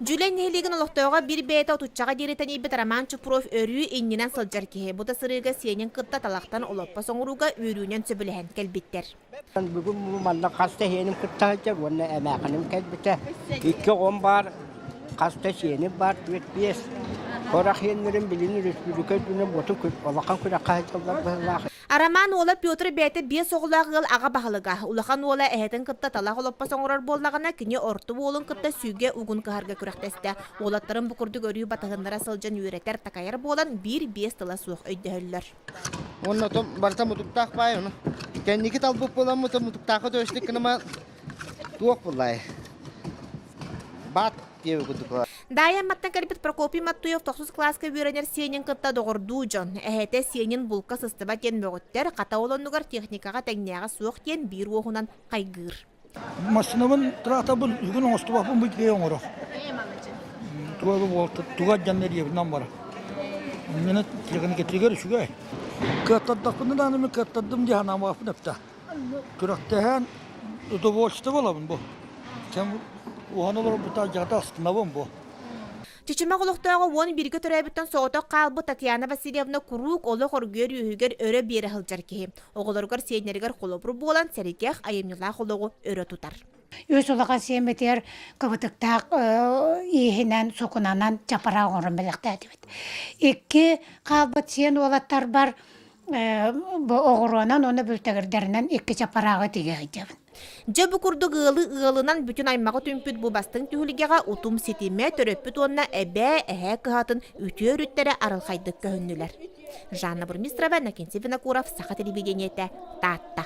Дьүлэй нэһилиэгин олохтооҕо биир бэйэтэ отуччаҕа диэри тэнийбит Роман Чупров өрүү иннинэн сылдьар киһи бута сырыыга сиэнин кытта талахтан олоппос оҥорууга үөрүүнэн сөбүлэһэн кэлбиттэр. Бүгүн манна хас да сиэним кытта сылдьар уонна эмээхиним кэлбитэ. Икки оҕом баар, хас да сиэним баар, түөрт биэс. Хорах иэннэрин билин өрөспүүбүлүкэ үрдүнэн боту улахан күрэххэ сылдьаллар быһыылаах. Арамаан уола Петр бэйэтэ биэс оҕолоох ыал аҕа баһылыга. Улахан уола эһэтин кытта талах олоппос оҥорор буоллаҕына, кини орто уолун кытта сүүгэ угун кыһарга күрэхтэстэ. Уолаттарын бу курдук өрүү батыһыннара сылдьан үөрэтэр-такайар буолан, биир-биэс тыла суох өйдөһөллөр. Уонна оттон барыта мутуктаах баай ону. Кэнники талбыт буоламмыт мутуктаахха төстүк гынан туох буллай? Баат Даайа айматтан кэлбит Прокопий Маттуев тохсус кылааска үөрэнэр сиэнин кытта доҕордуу дьон, эһэтэ сиэнин булка сыстыбат диэн мөҕүттэр, хата олоннугар техникаҕа тэҥнээҕэ суох диэн биир уоһунан хайгыыр. Массыынабын тыраатабын бүгүн оҥостубаппын бу итигэ оҥорох. Туга бу туга дьаннар иэбинэн бара. Мені телефоны кетиригер үчүгэй. Кыаттардахпын дааны мен кыаттардым диһанамааппын эпта. күрэхтэһэн удовольствие булабын бу кэм уһан олорбута дьахта астынабын бу Чичимэх олохтооҕу уон бииргэ төрөөбүттэн соҕотох хаалбыт Татьяна Васильевна куруук олох оргуйар үөһүгэр өрө биэрэ сылдьар киһи. Оҕолоругар сиэннэригэр холобур буолан сэргэх айымньылаах олоҕу өрө тутар. Үс улахан сиэмэтигэр кыбытыктаах ииһинэн, сукунанан чапара оҥорон бэлэхтээтибит. Икки хаалбыт сиэн уолаттарбар Э, бу оҕуруонан уонна бүлтэгирдэринэн иккис аппарааҕы тигэһийдэбин. Дьэ бу курдук ыалы ыалынан бүтүн аймаҕы түмпүт бу бастыҥ түһүлгэҕэ утум ситимэ, төрөппүт уонна эбээ, эһээ кыһатын үтүө өрүттэрэ арылхайдык көһүннүлэр. Жанна Бурмистрова, Накинсий Винокуров, Саха телевидениетэ, Таатта.